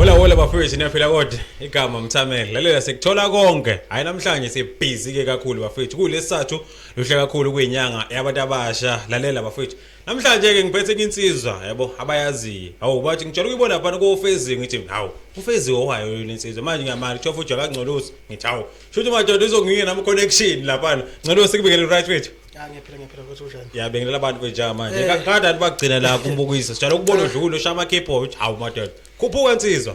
Hola hola bafowethu niyaphila kodwa igama mthamele lalela sikuthola konke hayi namhlanje sibhizi ke kakhulu bafowethu kulesathu luhle kakhulu kuyinyanga yabantu abasha lalela bafowethu namhlanje ke ngiphethe insizwa yabo abayaziyo hawu bathi ngijela ukuyibona phana kofezi ngithi hawu ufezi owayo yona insizwa manje ngiyamali kuthiwa futhi akangcolosi ngithi hawu shuthi madoda uzonginika nami connection lapha ngcolosi kubikele right wethu Ya ngiyaphila ngiyaphila ukuthi unjani? Ya bengilela abantu kwenja manje. Eh. Kakade athi bagcina la kumbukisa. Sijala ukubona udlule ushaya ama keep out. Hawu madoda. Khuphuka insizwa.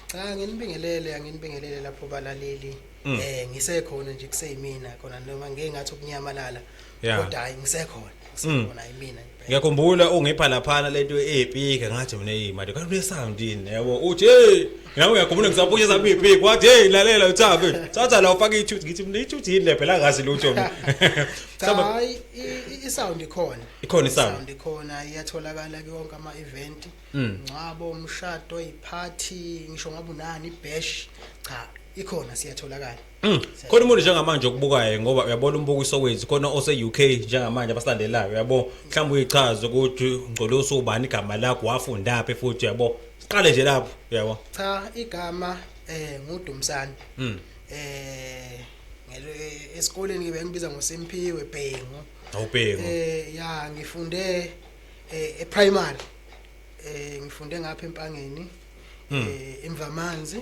Cha nginibingelele anginibingelele lapho balaleli. Mm. Eh ngisekhona nje kuseyimina khona noma ngeke ngathi ukunyamalala. Kodwa hayi ngisekhona. Mm. Ngisekhona yimina nje. ngiyakhumbula ungipha laphana lento eyipika ngathi mina hey manje kanti unesound yini yabo uthi hey nawe uyakhumbula ngisaphusha sami ipiki wathi hey lalela uthabe thatha la ufake ithuthi ngithi mina ithuthi yini le phela ngazi lutho mina cha Saba- hayi i- i- i-sound ikhona Ikhona i-sound. i-sound ikhona iyatholakala kuyonke ama-event Mm. ngcwabo umshado iphathi ngisho ngabe unani ibash cha ikhona siyatholakala Mm. Khona umuntu njengamanje okubukayo ngoba uyabona umbukiso wethu khona ose-UK njengamanje abasalandelayo uyabo mhlawumbe uyichaze ukuthi ngcole usubani igama lakho wafundaphi futhi uyabo siqale nje lapho uyabo cha igama eh ngudumsani mm. eh esikoleni ngibe ngibiza ngoSimphiwe Bhengu awubhengu eh ya ngifunde eh, e primary eh ngifunde ngapha empangeni mm. eh emvamanzi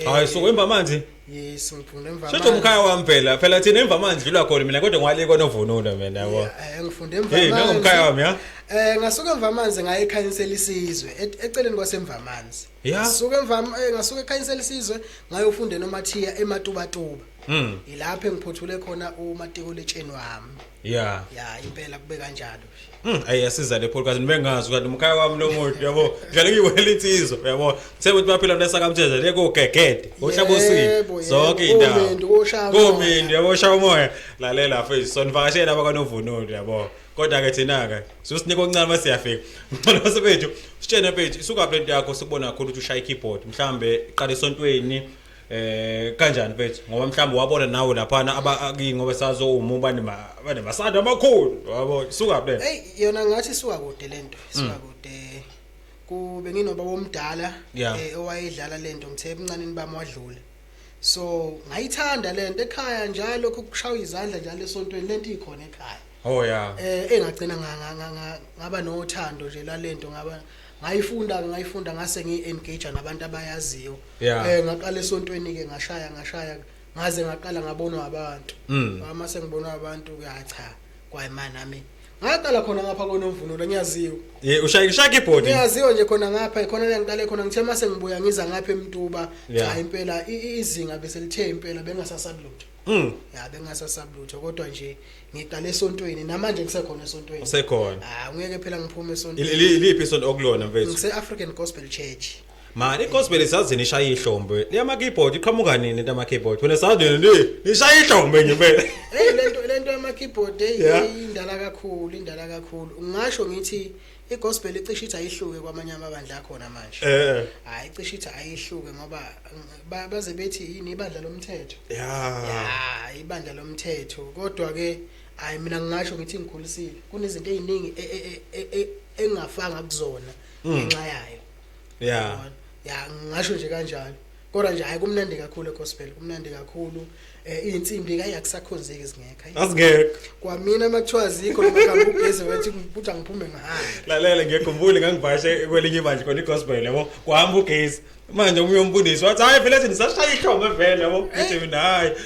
hayi so wemba amanzi yes ngiphunde emva amanzi sho umkhaya wami phela phela thina emva amanzi dlula khona mina kodwa ngwale konovunulo mina yabo eh ngifunde emva amanzi hey nangomkhaya wami ya eh ngasuka emva amanzi ngaye ekhayinsela isizwe e-, eceleni kwasemva amanzi ngasuka emva eh, ngasuka ekhayinsela isizwe ngayofunda nomathiya ematubatuba mm ilapho engiphothule khona umatikuletsheni wami Yeah. ya impela kube kanjalo Mm, ayi yasiza le podcast nibengazi kanti umkhaya wami lo muntu yabo ngale ngiwela insizwa yabo sekuthi baphila nesakamthethe le kogegede ohlabosini Yebo, zonke yebo. indawo Komendu, koshaya umoya. komendu yabo shaya umoya lalela mfethu sonivakashela abakanovunulo yabo kodwa ke thina ke sosinika okuncane uma siyafika ngicela sebethu sitshene mfethu isukaphi lento yakho sikubona kakhulu ukuthi ushaya i-keyboard mhlambe qala esontweni Eh kanjani mfethu ngoba mhlawumbe wabona nawe laphana abakingi ngoba sazowuma ubani bane masanda amakhulu yabo suka phela. Hey yona ngathi suka kude lento suka mm. kude kube nginoba womdala eh, owayedlala lento ngithe emncaneni bami wadlula. So ngayithanda lento ekhaya njalo lokho kushaya izandla njalo esontweni lento ikhona ekhaya. Oh yeah. Eh engagcina ngaba nothando nje lalento ngaba ngayifunda ngayifunda ngase ngi engage nabantu abayaziyo yeah. eh ngaqala esontweni ke ngashaya ngashaya ngaze ngaqala ngabonwa abantu mm. uma sengibonwa abantu ke cha kwayimani nami ngaqala khona ngapha konomvunulo ngiyaziwa ye ushaya ushaya ibhodi ngiyaziwa nje khona ngapha khona la ngiqale khona ngithe mase ngibuya ngiza ngapha emtuba cha impela izinga bese lithe impela bengasasabi lutho Mm. Ya bengasasaba lutho kodwa nje ngiqale esontweni namanje ngisekhona esontweni. Usekhona. Ah ngeke phela ngiphume esontweni. Iliphi isonto okulona mfethu? Ngise African Gospel Church. Mani igospel isazini ishaya ihlombe. Liyama keyboard iqhamuka nini into ama keyboard? Wena sazini ni ishaya ihlombe nje phela. Hey lento lento ama keyboard hey indala kakhulu indala kakhulu. Ngisho ngithi igospel icishe ithi ayihluke kwamanye amabandla akhona manje eh hayi icishe ithi ayihluke ngoba ba- baze bethi yini ibandla lomthetho ya ya ibandla lomthetho kodwa ke hayi mina ngingasho ngithi ngikhulisile kunezinto eziningi e- e- e- e- e- engingafanga kuzona ngenxa yayo ya ya ngingasho nje kanjalo kodwa nje hayi kumnandi kakhulu egospel kumnandi kakhulu um eh, iy'nsimbi kayi akusakhonzeki zingekho azingekho kwamina uma kuthiwa zikho ngihambe ugeze wethi ukuthi angiphume ngihambe lalela ngiyekhumbule ngangivashe kwelinye ibandla khona igospel yabo kuhamba ugezi manje omunye umbundisi wathi hhayi vele ethi ndisashaya ihlombe vele yabo ngithi mina hhayi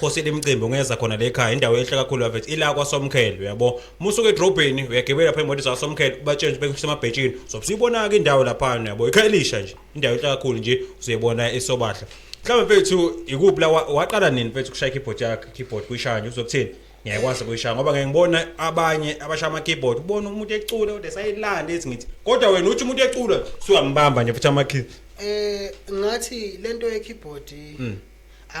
khosi limcimbi ungeza khona le khaya indawo enhle kakhulu yavet ila kwasomkhele uyabo musuke edrobheni uyagibela pha imoto zasomkhele ubatshenje bekusemabhetshini sobusiyibona-ke indawo laphana uyabo ikhaya elisha nje indawo enhle kakhulu nje uzoyibona esobahla mhlawumbe mfethu ikuphi la wa- waqala nini mfethu kushaya i-keyboard yakhe keyboard kuyishaya nje uzokuthini ngiyakwazi kuyishaya ngoba ngeke ngibona abanye abashaya ama-keyboard ubona umuntu ecula kodwa esayilanda ethi ngithi kodwa wena uthi umuntu ecula suwambamba nje futhi amakhi Eh ngathi lento ye keyboard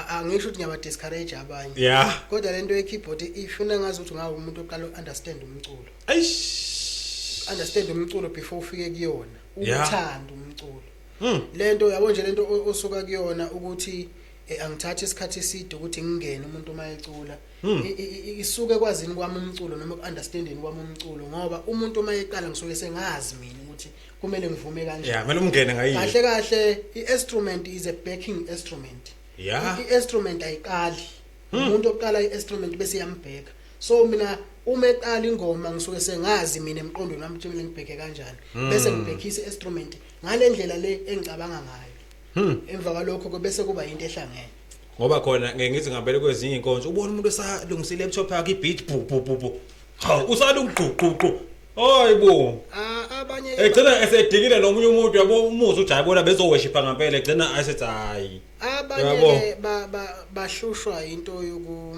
angisho ukuthi ngiyaba discourage abanye yeah kodwa lento ye keyboard ifuna ngazi ukuthi ngawo umuntu oqala understand umculo eish understand umculo before ufike kuyona uthanda umculo hmm. lento yabo nje lento osuka kuyona ukuthi eh, angithatha isikhathi eside ukuthi ngingene umuntu uma ecula hmm. isuke kwazini kwami umculo noma ku-understanding kwami umculo ngoba umuntu uma eqala ngisuke sengazi mina ukuthi kumele ngivume kanje yeah kumele umngene ngayiyo kahle kahle i-instrument is a backing instrument yeah i-instrument ayiqali hmm. umuntu oqala i-instrument bese yambheka so mina uma eqala ingoma ngisuke sengazi mina emqondweni wami ukuthi mina ngibheke kanjani hmm. bese ngibhekisa i-instrument ngale ndlela le engicabanga ngayo hmm. emva kwalokho ke bese kuba yinto ehlangene ngoba khona ngeke ngithi ngabele kwezinye inkonzo ubona umuntu esalungisa i-laptop yakhe i-beat bhu bhu bhu Cha usala ukugquqququ. Hayibo. Ah abanye Egcina esedikile nomunye umuntu yabo umuzi ujayibona bezoweshipa ngempela egcina asethi hayi. abanye Yabo. ke ba- ba- bahlushwa into yoku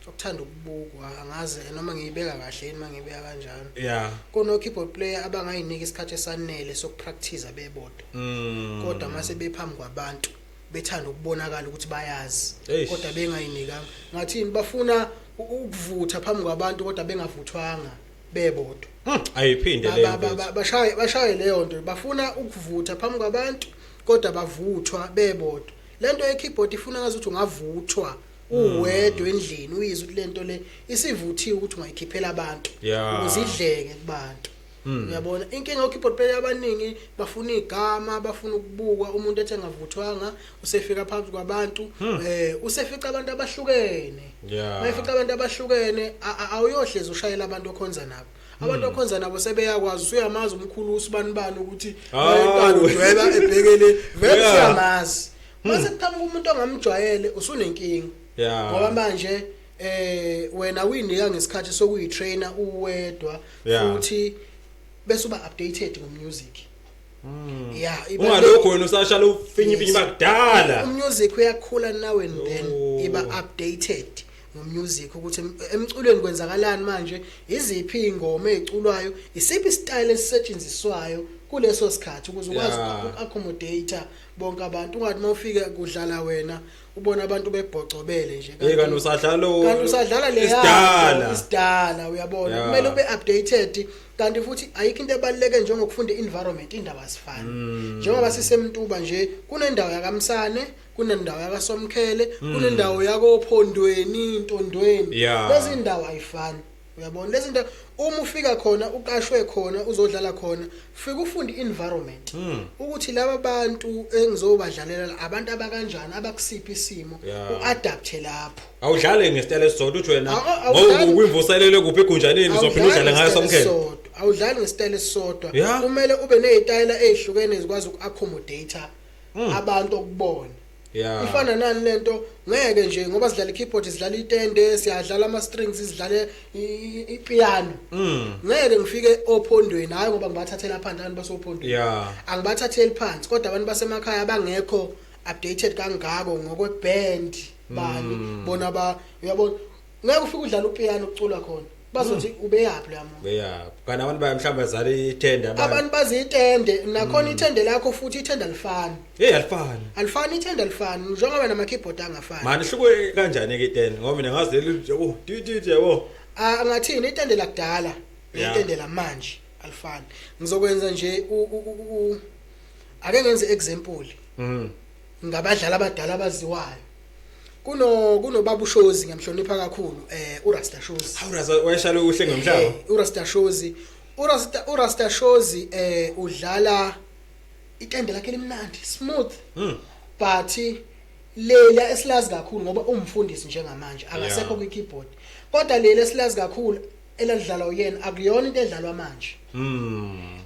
ukuthanda ukubukwa angazi noma ngiyibeka kahle yini uma ngiyibeka kanjalo Yeah. kuno-keyboard player abangayinika isikhathi esanele sokupractice bebodwa Mm. kodwa mase bephambi kwabantu bethanda ukubonakala ukuthi bayazi Eish. kodwa bengayinikanga ngathini bafuna u- ukuvutha phambi kwabantu kodwa bengavuthwanga bebodwa Hmm, ayiphinde Ba- leyo ba- ba- mfethu. ba- bashaye bashaye leyo nto bafuna ukuvutha phambi kwabantu kodwa bavuthwa bebodwa lento ye keyboard ifuna ngazi ukuthi ungavuthwa uwedwa endlini uyizwe ukuthi lento le isivuthiwe ukuthi ungayikhiphela abantu Yeah. ukuze idleke kubantu Hmm. Uyabona inkinga ukeyboard player abaningi bafuna igama bafuna ukubukwa umuntu ethi engavuthwanga usefika phansi kwabantu hmm. eh usefica abantu abahlukene. Mayifica abantu abahlukene awuyohlezi ushayela abantu okhonza nabo. abantu okhonza nabo sebeyakwazi usuyamazi umkhulu usibani bani ukuthi bayekani udweba ebhekele vele siyamazi mase kuqhamuka umuntu ongamjwayele usunenkinga ngoba manje eh wena uyinika ngesikhathi sokuyitrainer uwedwa Yeah. futhi bese uba updated ngomusic Hmm. yeah iba- ungalokho wena usashala ufinye ifinye Yes. bakudala umusic uyakhula nawe and then Oh. iba updated ngomusic ukuthi em- emculweni kwenzakalani manje iziphi ingoma eziculwayo isiphi style esisetshenziswayo kuleso sikhathi ukuze ukwazi Yeah. uku-accommodate bonke abantu ungathi mawufika kudlala wena ubona abantu bebhocobele nje hey kanti usadlala kanti usadlala le isidala isidala uyabona yeah. kumele ube updated kanti futhi ayikho into ebaluleke njengokufunda environment indaba asifani mm. njengoba sisemntuba nje kunendawo yakamsane kunendawo yakasomkhele mm. kunendawo yakophondweni intondweni yeah. lezi ndawo ayifani uyabona lezi zinto uma ufika khona uqashwe khona uzodlala khona fika ufunde environment hmm. ukuthi laba bantu engizobadlalela abantu abakanjani abakusiphi isimo uadapt lapho awudlale ngesitayela esisodwa uthi wena ngoba ukwimvuselele kuphi egunjaneni uzophinda udlale ngayo somkhele awudlali ngesitayela esisodwa kumele ube nezitayela ezihlukene ezikwazi ukuaccommodate hmm. abantu okubona Yeah. Ifana nani lento ngeke nje ngoba sidlala i-keyboard sidlala itende siyadlala ama-strings sidlale ipiano. Mm. Ngeke ngifike ophondweni hayi ngoba ngibathathela phansi abantu basophondweni. Yeah. Angibathatheli phansi kodwa abantu basemakhaya abangekho updated kangako ngokwe-band bani mm. bona ba uyabona ngeke ufike udlala upiano ucula khona bazothi hmm. ubeyaphi la muntu beyaphi kana abantu baye mhlawumbe bazala ithende abantu baziyitende nakhona hmm. ithende lakho futhi ithende alifani hey alifani alifani ithende alifani njengoba nama keyboard angafani manje hluke kanjani ke ithende ngoba mina ngazi leli yabo tititi yabo ah ngathini ithende lakudala ithende lamanje alifani ngizokwenza nje ake ngenze example mhm ngabadlali abadala abaziwayo kuno kunobaba ushozi ngiyamhlonipha kakhulu eh urasta shozi hawu raza wayeshalo uhle ngomhlaba Eh, urasta shozi urasta urasta shozi eh udlala itende lakhe limnandi smooth Mm. but lela esilazi kakhulu ngoba umfundisi njengamanje akasekho Yeah. kwi keyboard kodwa lela esilazi kakhulu elalidlalwa uyena akuyona into edlalwa manje Mm.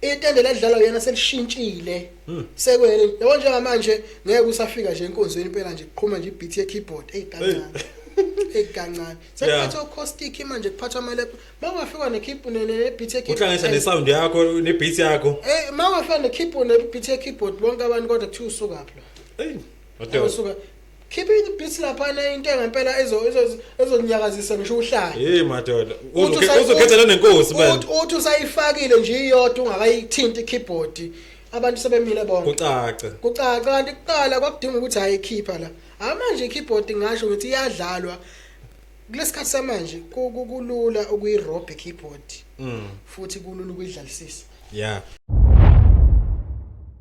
itende ladlalwa uyena selishintshile hmm. sekwele yabo njengamanje ngeke usafika nje enkonzweni impela nje kuqhuma nje ibeat ye keyboard hey kancane hey kancane sekuphatha acoustic manje kuphatha amale mawafika ne keyboard ne ne beat ye keyboard uhlanganisa ne sound yakho ne beat yakho hey mawafika ne keyboard ne beat ye keyboard bonke abantu kodwa kuthiwa usuka pho hey usuka Khipha i beats laphana into engempela ezo ezo- ezonyakazisa ngisho uhlale. Hey madoda. Uthi Uzoke- usa- Uzokhethelana nenkosi man. Uthi- Uthi usayifakile nje iyodwa ungakayithinti keyboard. Abantu sebemile bonke. Kucaca. Kucaca kanti kuqala kwakudinga ukuthi ayikhipha la. Hayi manje i-keyboard ngasho ukuthi iyadlalwa. Kulesikhathi samanje ku- ku- kulula ukuyi-rob i-keyboard Mm. futhi kulula ukuyidlalisisa. Yeah.